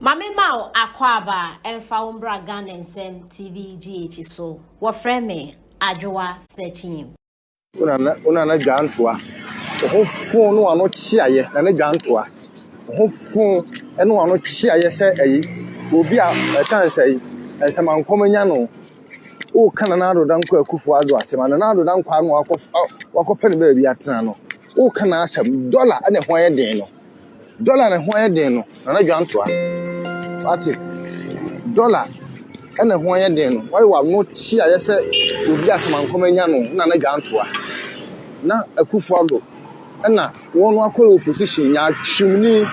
Ma me ma wo akwaaba ɛmfa wo mbra Ghana nsɛm TV GH so. Wɔfrɛ me Adwoa Sekyim. Wo nana wo nana dwa ntoa. Wo ho fon ne wano kyeayɛ nana dwa ntoa. Wo ho fon ne wano kyeayɛ sɛ ɛyi obi a ɛtan sɛ yi nsɛmankɔm anya no. Wo ka nana Ado Dankwa Akufo Ado asɛm a nana Ado Dankwa no wakɔ wakɔpɛ no baabi atena no. Wo ka n'asɛm dɔla ɛna ɛho ayɛ den no. Dɔla na ɛho yɛ den no, Nana Dwantoa. Wate? Dɔla na ɛho yɛ den no, woayɛ w'ano kyi a yɛ sɛ obi a samankɔm anya no, Nana Dwantoa. Na Akufo-Addo na wɔn akɔ opposition, nyaatwomni,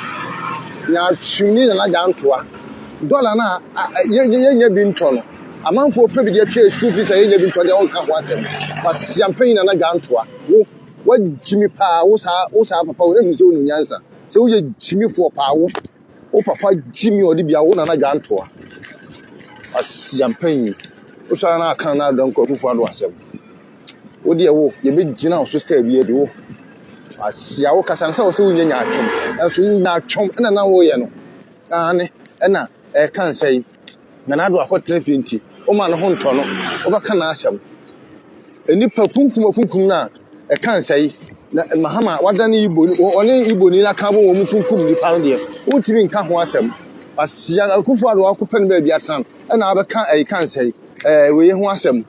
nyaatwomni Nana Dwantoa. Dɔla no a yɛnya bi ntɔ no, amanfoɔ pɛ bi de atwa school fees a yɛnya bi ntɔ deɛ wonka ho asɛm. Kwasia mpanyin Nana Dwantoa, wo. Wagyimi paa wo saa wo saa papa wo nhu sɛ wo nyansa sɛ woyɛ gyimifoɔ paa wo wo papa gyimi ɔde bia wo nana dwantoa asiampanyin wosɔre no aka no adɔ nkɔ afufoɔ ado asɛm wo deɛ wo yɛbɛgyina wo so sɛ bia bi wo asia wo kasa no sɛ wo sɛ wonyɛ nyaatwom ɛnso nyaatwom ɛna na woyɛ no aane ɛna ɛka nsɛn na n'ado akɔtena fie nti, woma ne ho ntɔ no, wobɛka n'asɛm. Nnipa kunkum akunkum no a, ɛka nsa yi, na Mahama wadane Igbo, ɔne Igbo ni n'aka bɔ wɔn kunkum nnipa no deɛ, wontumi nka ho asɛm. Asia akufo ado akɔpɛ no baabi atena no, ɛna abɛka ɛyi ka nsa yi, ɛɛ wei ho asɛm.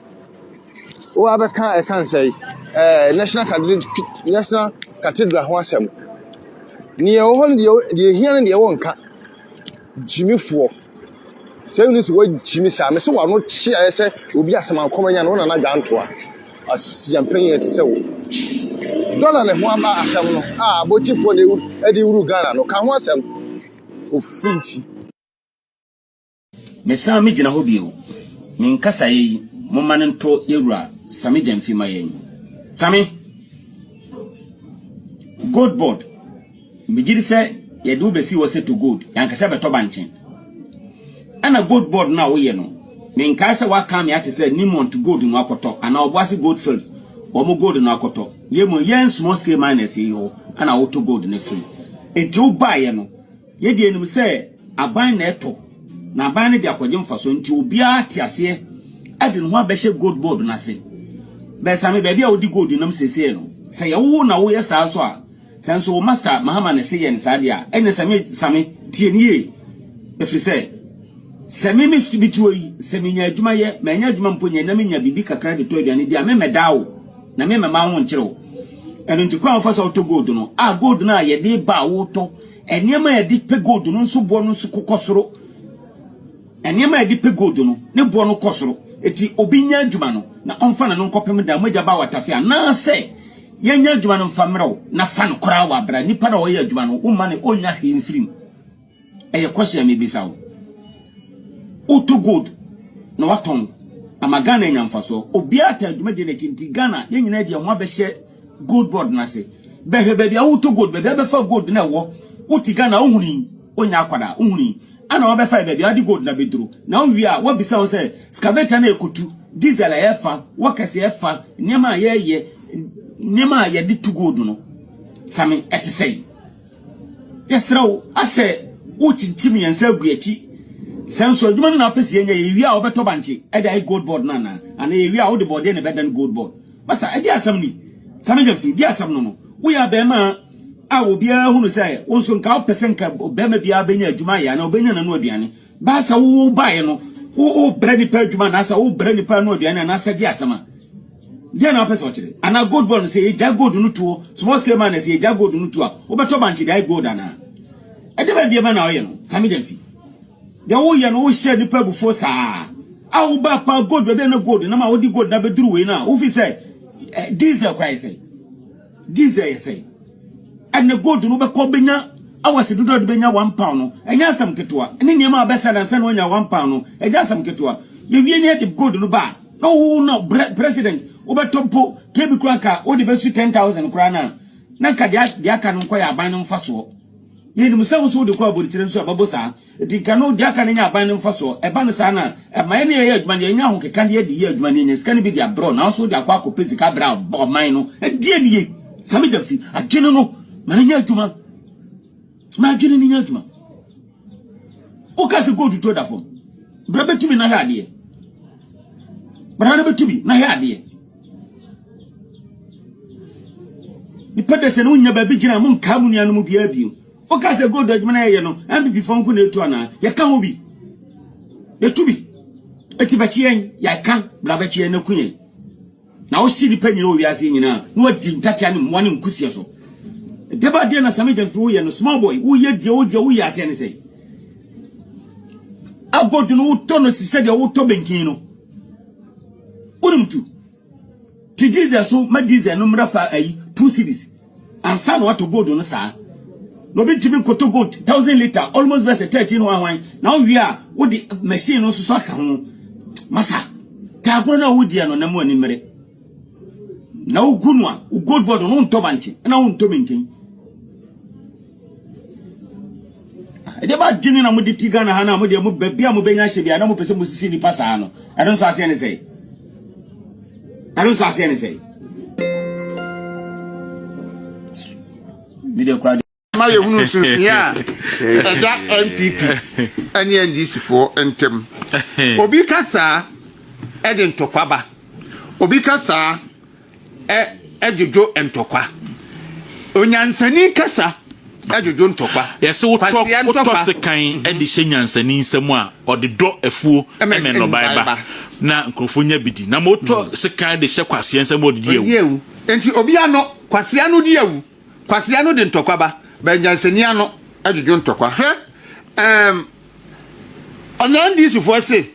Wo abɛka ɛka nsa yi, ɛɛ national cathedral, national cathedral ho asɛm. Nea ɛwɔ hɔ no deɛ deɛ ehia no deɛ wɔnka. gyimifoɔ. Sɛ wone sɛ woagyimi saa a, mese w'ano kye a ɛyɛ sɛ obi asɛm ankɔm anya no, wo Nana Dwantoa. Asia mpanyin a ɛte sɛ wo. Dɔla ne ho aba asɛm no a abɔkyifoɔ na de wuru Ghana no, ka ho asɛm. Ofunti. Mesan me gyina hɔ bio. Me nkasaeɛ yi momma no ntɔ yɛwura Same Gyamfi ma yɛn. Same! Gold board. Megye di sɛ yɛde wo bɛsi hɔ sɛ tɔ gold, yɛankasa bɛtɔ bankye. Ɛna gold board no a woyɛ no, menkae sɛ woaka me ate sɛ Newmont gold no akɔtɔ anaa Obuasi Goldfields wɔn gold no akɔtɔ. Yei mmom, yɛn small scale miners yi hɔ na wotɔ gold no firi. Enti wobaeɛ no, yɛn deɛ yɛnim sɛ aban na ɛtɔ, na aban no de akɔgye mfasoɔ. Enti obiara te aseɛ de ne ho abɛhyɛ gold board no ase. Bɛsame, baabi a wode gold nam seesei no, sɛ ɛyɛ wo na woyɛ saa nso a, Sɛ nso wo master Mahama na ɛse yɛ no saa deɛ a, ɛnneɛ sɛ me, Same, tie no yie. Ɛfiri sɛ, sɛ me me bi tuo yi, sɛ menya adwuma yɛ, manya adwuma mpo nyɛ na menya biribi kakra de tɔ aduane di a, memmɛdaa wo, na memmɛma wo ho nkyere wo. Ɛno nti, kwan a wofa so a wotɔ gold no, a gold no a yɛde ba a wotɔ, nneɛma a yɛde pɛ gold no nso boɔ no nso kɔ soro. Nneɛma a yɛde pɛ gold no, ne boɔ no kɔ soro. Enti obi nyɛ adwuma no, na ɔmfa no no nkɔpem da a mogya ba awatafee, anaasɛ yɛnyɛ adwuma no mfa mmerɛ wo, na fa no koraa wa bra. Nipa no a ɔyɛ adwuma no, womma no ɔnnya hwee mfiri mu. Ɛyɛ question a mebisa wo. Wotɔ gold na watɔn ama Ghana anya mfasoɔ. Obiara taa adwumadie no akyi, nti Ghana yɛn nyinaa de yɛn ho abɛhyɛ gold board no ase bɛhwɛ baabi a wotɔ gold baabi a bɛfa gold na ɛwɔ wote ghana wohuni wonya akwadaa wohuni ana wabɛfa yɛ baabi a wode gold na bɛduro na wowie a wabisa wo sɛ scaveta na ɛkɔtu diesel a yɛfa wɔkɛse yɛfa nneɛma a yɛyɛ nneɛma a yɛde tu gold no same ɛte sɛe yɛserɛ wo asɛ wokyinkyim yɛn nsa agu akyi sɛ nso adwuma no na apɛ sɛ yɛnyɛ yɛwie a wobɛtɔ bankye ɛde ayɛ gold board no anaa ana yɛwie a wode bɔɔdeɛ na ɛbɛdan gold board Masa, ɛdeɛ asɛm ni? Sami James, ɛdeɛ asɛm no no? Woyɛ abɛɛma a obiara hu no sɛ wo nso nka wopɛ sɛ nka bɛɛma biara bɛnya adwuma ayɛ anaa ɔbɛnya n'ano aduane. Baasa wo wo baeɛ no, wo wo brɛ nipa adwuma anaasɛ wo brɛ nipa ano aduane anaasɛ ɛdeɛ asɛm a. Deɛ na wopɛ sɛ ɔkyerɛ? Anaa gold bɔ no sɛ yɛgya gold no tuo, small scale man sɛ yɛgya gold no tuo a, wobɛtɔ bankye de ayɛ gold anaa? Ɛdeɛ bɛn deɛ bɛn na ɔyɛ no? Sami James. Deɛ woyɛ no wohyɛ nipa abufuo saa a woba pa gold baabi a na gold nam a wode gold na bɛduru wei no a wofi sɛ eh, diesel kora yɛ sɛ diesel yɛ sɛ ɛnɛ gold no wobɛkɔ bɛnya awase dodoɔ de bɛnya one pound no ɛnyɛ asɛm ketewa ne nneɛma a wobɛsɛ nansa na wanya one pound no ɛnyɛ asɛm ketewa yɛwie ne ɛde gold no ba na wowo na president wobɛtɔ mpo kebi kora nka wode bɛsu 10000 koraa no a na nka deɛ aka no nkɔ yɛ aban no mfasoɔ Yɛnim sɛ wo nso wode kɔ abodikyire nso a, ɛbɛbo saa. Enti nka no, deɛ aka no nyɛ aban no mfasoɔ. Ɛba no saa no a, ɛma yɛne yɛyɛ adwuma no, yɛnya ahokeka na yɛde yɛ adwuma na yɛnya sika no bi de abrɛ wo, nanso wode akɔ akɔpɛ sika abrɛ ɔman no. Ɛdeɛn ne yei? Sa me gya fi. Adwene no, ma no nyɛ adwuma. Ma adwene no nyɛ adwuma. Woka sɛ gold tuo da fam. Bra bɛtumi na hwɛ adeɛ. Bra no bɛtumi na hwɛ adeɛ. Nipa dɛ sɛ no nya baabi gyina a mo nkaa mo nuanom biara bio. Wo ka sɛ gold adwuma na yɛyɛ no NPP fo nko na etu anaa? Yɛ ka ho bi. Yɛ tu bi. Eti bɛkye yɛn, yɛ ka bra bɛkye yɛn na ku yɛn. Na wo si nipa nyina wɔ wiase nyina na wadi ntatia ne mmoa ne nkusia so. Deba deɛ na Sami Gyamfi wo yɛ no small boy wo yɛ deɛ wo deɛ wo yɛ aseɛ ne sɛ. Agold no wo tɔ no sisɛ deɛ wo tɔ benkin no. wonim tu ti diesel so ma diesel no mmra fa ayi two cities ansa na wato gold no saa na obi ntumi nkoto gold thousand liter almost bɛsɛ thirteen ho ahwan na wowie a wode machine no nso so aka ho masa taagoro no a wodeɛ no na mu ani mmere na wogu no a gold board no wontɔ bankye na wontɔ minken ɛdeɛ ba adwene na mode ti ghana ha no a modeɛ mo baabi a mobɛnya hyɛ bia na mopɛ sɛ mosisi nnipa saa no ɛno nso aseɛ ne sɛe ɛno nso aseɛ ne sɛe medeɛ kora ma yɛhunu nsusueɛ a ɛda npp ne ndcfoɔ ntam obi ka saa ɛde ntɔkwaba obi ka saa dwodwo ntɔkwa. Onyansani kasa dwodwo ntɔkwa. Yɛse wotɔ wotɔ sekan mhm. de hyɛ nyansani nsɛm a ɔde dɔ afuo ne nnɔbae ba na nkurɔfoɔ nya bi di na ma wotɔ mhm. sekan de hyɛ kwaseɛ nsɛm a ɔde di awu. Nti obi ano kwaseɛ ano di awu kwaseɛ ano de ntɔkwa ba bɛnyansani ano dwodwo ntɔkwa. Hwɛ um, Ɔnam di so fua se,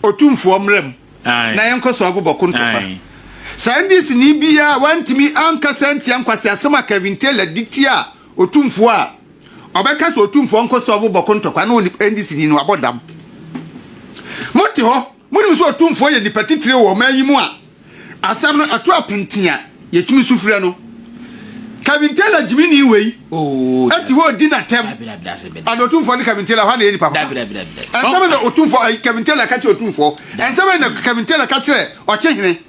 Otumfoɔ mmra mu na yɛnkɔ so agobɔ ko ntɔkwa. Saa NDCni biara wantumi ankasa antia nkwaseasɛm a Kevin Taylor de tiaa Otumfoɔ a ɔbɛka sɛ Otumfoɔ nkɔ so agobɔ ko ntɔkwa no wɔ NDCni no abɔdam. Mote hɔ? Monim sɛ ɔtumfoɔ yɛ nipa titire wɔ ɔman yi mu a asɛm no ɛto apenten a yɛtumi su frɛ no. Kevin Taylor gyimini wei ɛte hɔ ɔdi n'atɛm ɛna ɔtumfoɔ ne Kevin Taylor hɔ na ɛyɛ nipa papa. Ɛnsɛm na ɔtumfoɔ Kevin Taylor ka kyerɛ ɔtumfoɔ. Ɛnsɛm na Kevin Taylor ka kyerɛ ɔkyehene.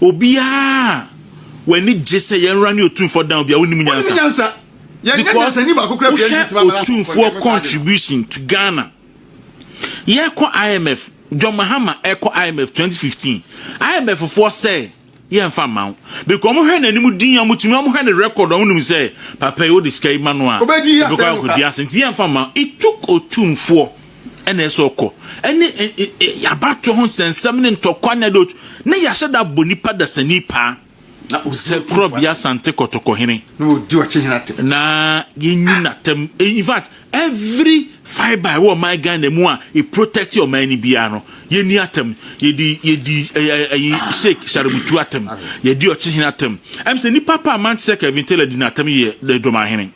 Obiara a w'ani gye sɛ yɛn wura ne otumfoɔ dan obi a wonim nyansa. Because wohwɛ otumfoɔ contribution to Ghana. Yɛkɔ IMF, John Mahama ɛkɔ IMF 2015. IMF foɔ sɛ yɛmfa mma wo. Because wɔhwɛ n'anim din a wɔtumi wɔhwɛ ne record a wonim sɛ papa yi wode sika yi ma no a. Obɛkɔ akɔdi ase nti yɛmfa mma. It took otumfoɔ. ɛna ɛsɛ ɔkɔ ɛne abatoɔ ho nsɛnsɛm ne ntɔkwa na ɛde na yɛahyɛ da bɔ nipa dasani paa na sɛ korɔ bia sante kɔtɔkɔhene na ɔdi ɔkyehene atɛm na yɛnyi n'atɛm in fact every fibre ɛwɔ ɔman ghana mu a ɛprotect ɔman no biara no yɛni atɛm yɛdi yɛdi ɛyi sheik sharebutu atɛm yɛdi ɔkyehene atɛm ɛm sɛ nipa pa a man te sɛ kevin taylor di n'atɛm yɛ dɔmahene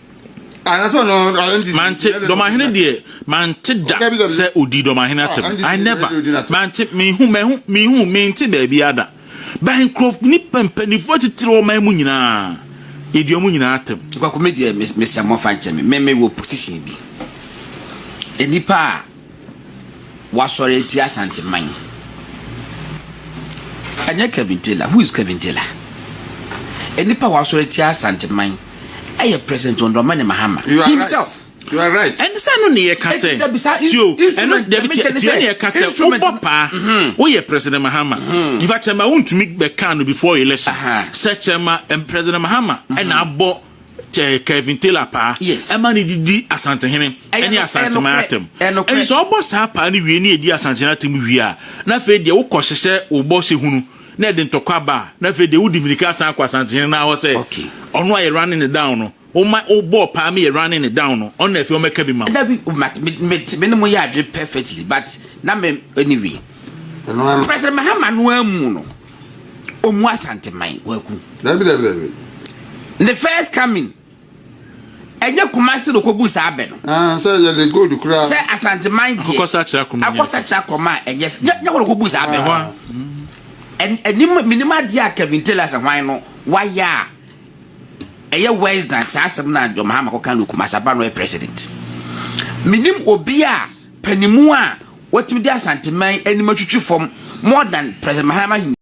mante dɔmahene deɛ mante da sɛ ɔdi dɔmahene atɛm i never mante mehu mahu mehu mente baabi ada ba nkurɔf nipa mpanimfoɔ titiri ɔman mu nyinaa yɛdi ɔmo nyinaa atɛm kwako me deɛ mesɛ mmɔfa nkyɛ me meme wɔ position bi nnipa a wasɔre atia Asanteman. Ɛnyɛ Kevin Taylor. Who is Kevin Taylor? Nnipa a wasɔre atia Asanteman ɛyɛ President John Dramani Mahama himself. Right. You are right. Ɛno sɛ ɛno ne yɛka sɛ tio ɛno dɛbi tiɛ tiɛ ne yɛka sɛ wobɔ paa mhm. woyɛ President Mahama mhm. yifa kyɛma wontumi bɛka no before election sɛ kyɛma President Mahama mhm. ɛna abɔ Kelvin Taylor paa ɛma ne didi Asantehene ɛne Asanteman atam ɛne sɛ ɔbɔ saa paa no wie ne ɛdi Asantehene atam wie a na afei deɛ wokɔ hyehyɛ wo bɔ sɛ hunu na ɛde ntɔkwa ba a na afei deɛ wodi mirika asan akɔ Asantehene no ahɔ sɛ ɔno ayɛ running ne down no woma wobɔɔ paa meyɛ running ne down no ɔno na afei ɔmɛka bi ma wo. Dabi me ne mo yɛ adwene perfectly but na me anyway President Mahama no amu no ɔmu asanteman kwaku dabi dabi dabi ne first coming ɛnyɛ kumase na ɔkɔbu saa abɛ no ah, sɛ yɛde gold koraa sɛ asanteman deɛ akɔsakyera kɔma akɔsakyera kɔma a ɛnyɛ nyɛ wɔn ɔkɔbu saa abɛ no ɛnim menim adeɛ a kevin taylor sɛ hwan no wayɛ a ɛyɛ west dan saa asɛm no a john mahama kɔka no kumase aba no yɛ president menim obi a panimu a wɔtumi de asanteman anim atwitwi fam more than president mahama